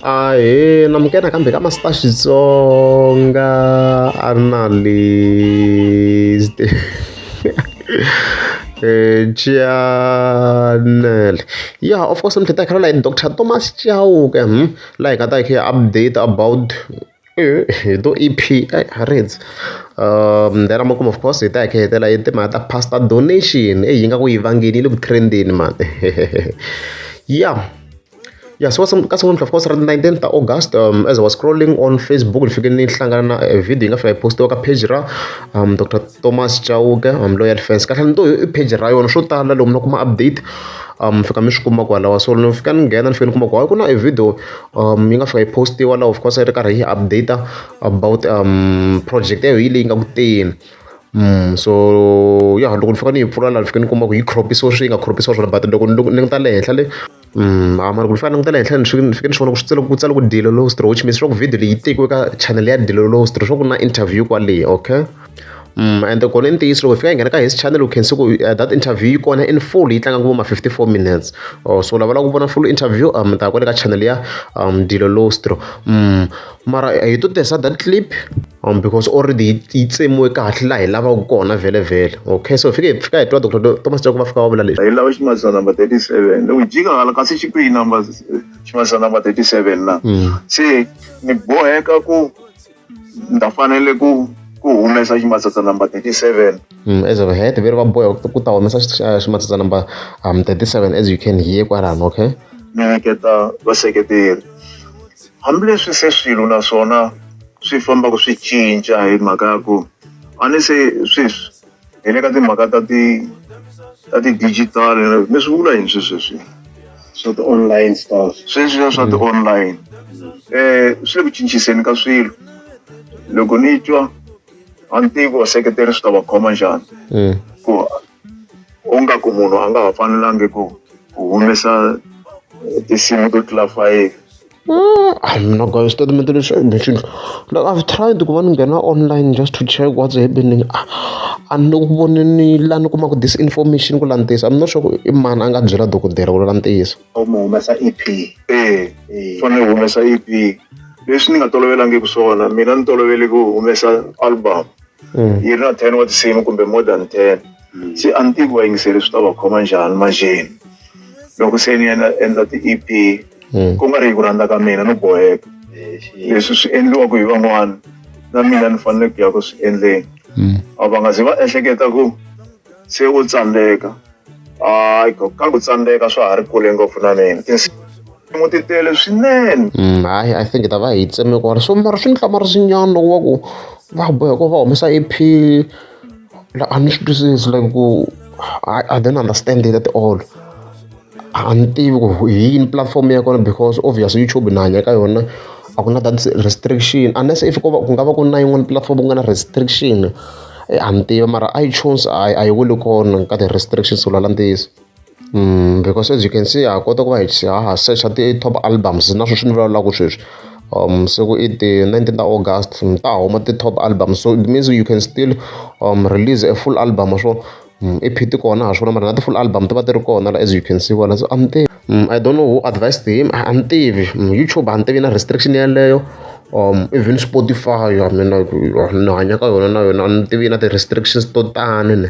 Ahee namukela kambe ka Master Xitsonga a ri na le channel ya of course ni hleketa hi kha ni ri na yena doctor Thomas Chauke laha hi nga ta hi kha hi update about. hi to E_P a hi rhandzi then a ma kuma of course hi ta hi kha hi hetelela hi timhaka ta pastor donation eyi ingaku yi vangile yi le ku trend-eni mhani ya ya se wa ka siku namuntlha of course ri ri nineteen ta August as I was scrolling on Facebook ni fike ni hlangana na video yi nga fika yi post-iwa ka page ra doctor Thomas Chauke loyi ya defense kahlekahle ni to i page ra yona swo tala lomu na kuma update mi fika mi swi kuma kwalaho so ni fika ni nghena ni fika ni kuma ku hayi ku na e video. yi nga fika yi post-iwa la of course yi ri karhi yi update-a about project ya hina leyi nga ku teni. So ya loko ni fika ni yi pfula laha ni fika ni kuma ku yi crop-isiwe swi yi nga crop-isiwa swona but loko ni loko ni languta le henhla le a mara ku ni fanele ni languta le henhla ni fanele ni fika ni swi vona ku swi ku tsale ku Dilelo History which means leswaku video leyi yi tekiwe ka chanele ya Dilelo History, leswaku ku na interview kwale okay. ende kona i ntiyiso loko hi fika hi nghena ka his channel u khensi ku eh, that interview yi kona in full yi tlanga ku ma 54 minutes oh, so lava lava ku vona full interview um ta kwale ka channel ya um dilo lostro um mara eh, hi to tirhisa that clip um because already yi tsemiwe kahle laha hi lavaka kona vhele vhele okay so fike hi fika hi twa dr thomas jaku va fika va vula leswi hi lava ximazisa number 37 loko jika hala kasi xi kwihi number ximazisa number 37 na hmm. se ni boheka ku ni ta fanele ku ku humesa ximatsatsa number 37 mm, as of head veri va boya ku ta humesa ximatsatsa number um, 37 as you can hear kwalano okay ni nyiketa vaseketeri hambileswi se swilo naswona swi fambaka swi cinca hi mhaka ya ku a ni se sweswi hi le ka timhaka ta ti ta ti-digital mi swi vula yini swi sweswi swa ti-online stars sweswiya swa ti-online um swi le ku cinciseni ka swilo loko ni twa a ni tivi ku vaseketeri swi ta va khoma njhani mm. ku u nga ku munhu a nga ha fanelangi ku ku humesa tinsimu to tlula fayifi I'm not going to stay in the mission. Like I've tried to go and get online just to check what's happening. And no one ni la ni kumaka this information ku lantisa. I'm not sure ku i mani a nga byela dokodela ku lantisa. U mu humesa EP. Eh. Fane humesa EP. Leswi ni nga tolovelangi ku swona. Mina ni tolovele ku humesa album. Yi ri na 10 wa tinsimu kumbe more than 10. Se a ni tivi vayingiseri swi ta va khoma njhani manjheni loko se ni yena endla ti-ep hmm. ku nga ri hi ku rhandza ka mina no boheka leswi swi endliwaka hi van'wana na mina ni fanele ku ya ku swi endleni hmm. a va nga ze va ehleketa ku se u tsandzeka hayi ka ku tsandzeka swa ha ri kule ngopfu na mina mo ti tele swinene mm, hayi i think ta va hi tseme ku ri swo mara swi ni hlamari swinyana loko va ku va bohe ku va humesa ep la a ni swi twisisi like ku i don't understand it at all a ni tivi ku hi yini platform ya kona because obvious youtube na hanya ka yona a ku na that restriction unless if ku nga va ku na yin'wana platform ku nga na restriction eh, a ni tivi mara itunes a yi weli kona ka ti-restrictions ku lwala ntiyiso because as you can see ha kota ku va hi ha ha secha ti-top albums na sweswi ni vulavulaka sweswi um se ku i ti-nineteen ta august ta huma ti-top album so it means you can still um release a full album swo i phiti kona ha swona mara na ti-full album ti va ti ri kona as you can see vona so I'm there Mm, I don't know who advised him. I, I'm tivi. Mm, YouTube a ni tivi na restriction yeleyo. Um, even Spotify, I mean, like, ni hanya ka yona na yona a ni tivi na ti-restrictions to tani ne.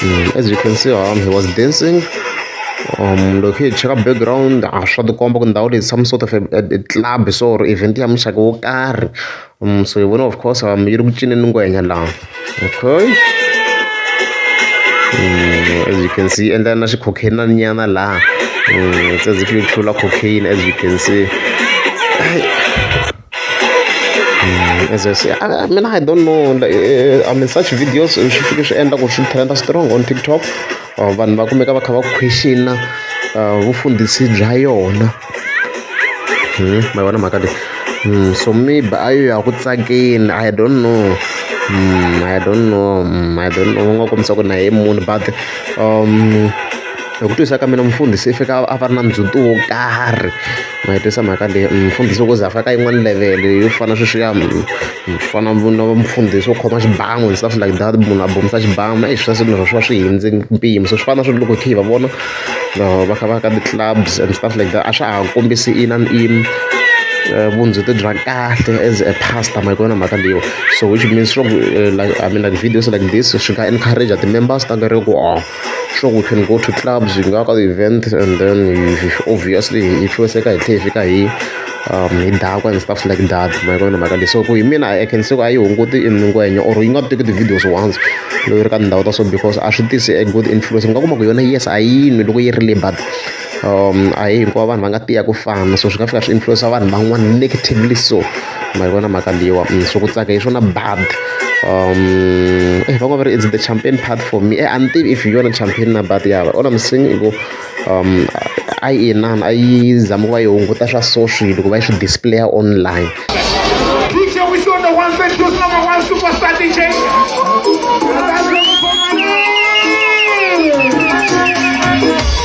Mm, as you can see um, he was dancing um loko hi cheka background a swa tikomba ku ndhawu leyi some sort of a, a, a club so or event ya muxaka wo karhi um so hi vona of course um yi ri ku cineni ngwenya laha okay mm, as you can see endla na xikhokheni na nyana laha mm, it's as if you tlula cocaine as you can see as I say, I, I mean, I don't know. Like, uh, I mean, such videos swi fike swi endla ku swi trenda strong on tiktok uh, vanhu va kumeka va kha va questiona uh, vufundhisi bya yona hmm, ma vona mhaka leyi hmm, so maybe a yo ya ku tsakeni i don't know hmm, i don't know i don't know u nga kombisa ku na hi munhu but um Hi ku twisisa ka mina mufundhisi i fika a va ri na ndzhuti wo karhi ma yi tisa mhaka leyi mufundhisi loko o ze a fika ka yin'wani level-e yo fana sweswiya ku fana na mufundhisi wo khoma xibamu and stuff like that munhu a bomisa xibamu eyi swi swa swi va swi hundze mpimo se swi fana na swa ku loko hi kha hi va vona va kha va ya ka ti-clubs and stuff like that a swa ha kombisi ina ni ina vundzhuti bya kahle as a pastor ma yi vona mhaka leyiwa so which means swa ku like I mean like videos like this swi nga encourage-a ti-members ta kereke ku . Sure we can go to clubs, hi nga ka ti-event and then obviously hi influence-eka hi tlhela hi fika hi um hi dakwa and stuff like that ma yi vona mhaka leyi se ku hi mina I can say ku a yi hunguti i ngwenya or yi nga teki ti-videos once loko yi ri ka tindhawu ta so because a swi tisi a good influence u nga kuma ku yona yes a yi nwi loko yi ri le but a hi hinkwavo vanhu va nga tiya ku fana so swi nga fika swi influence-a vanhu van'wana negatively so. ma yi vona mhaka leyiwa swi ku tsaka hi swona bad va ngo va ri is the champagne part for me a ni tivi if hi yona champagne na bad ya all I'm saying i ku a yi inana a yi zama ku va yi hunguta swa so swilo ku va yi swi display-a online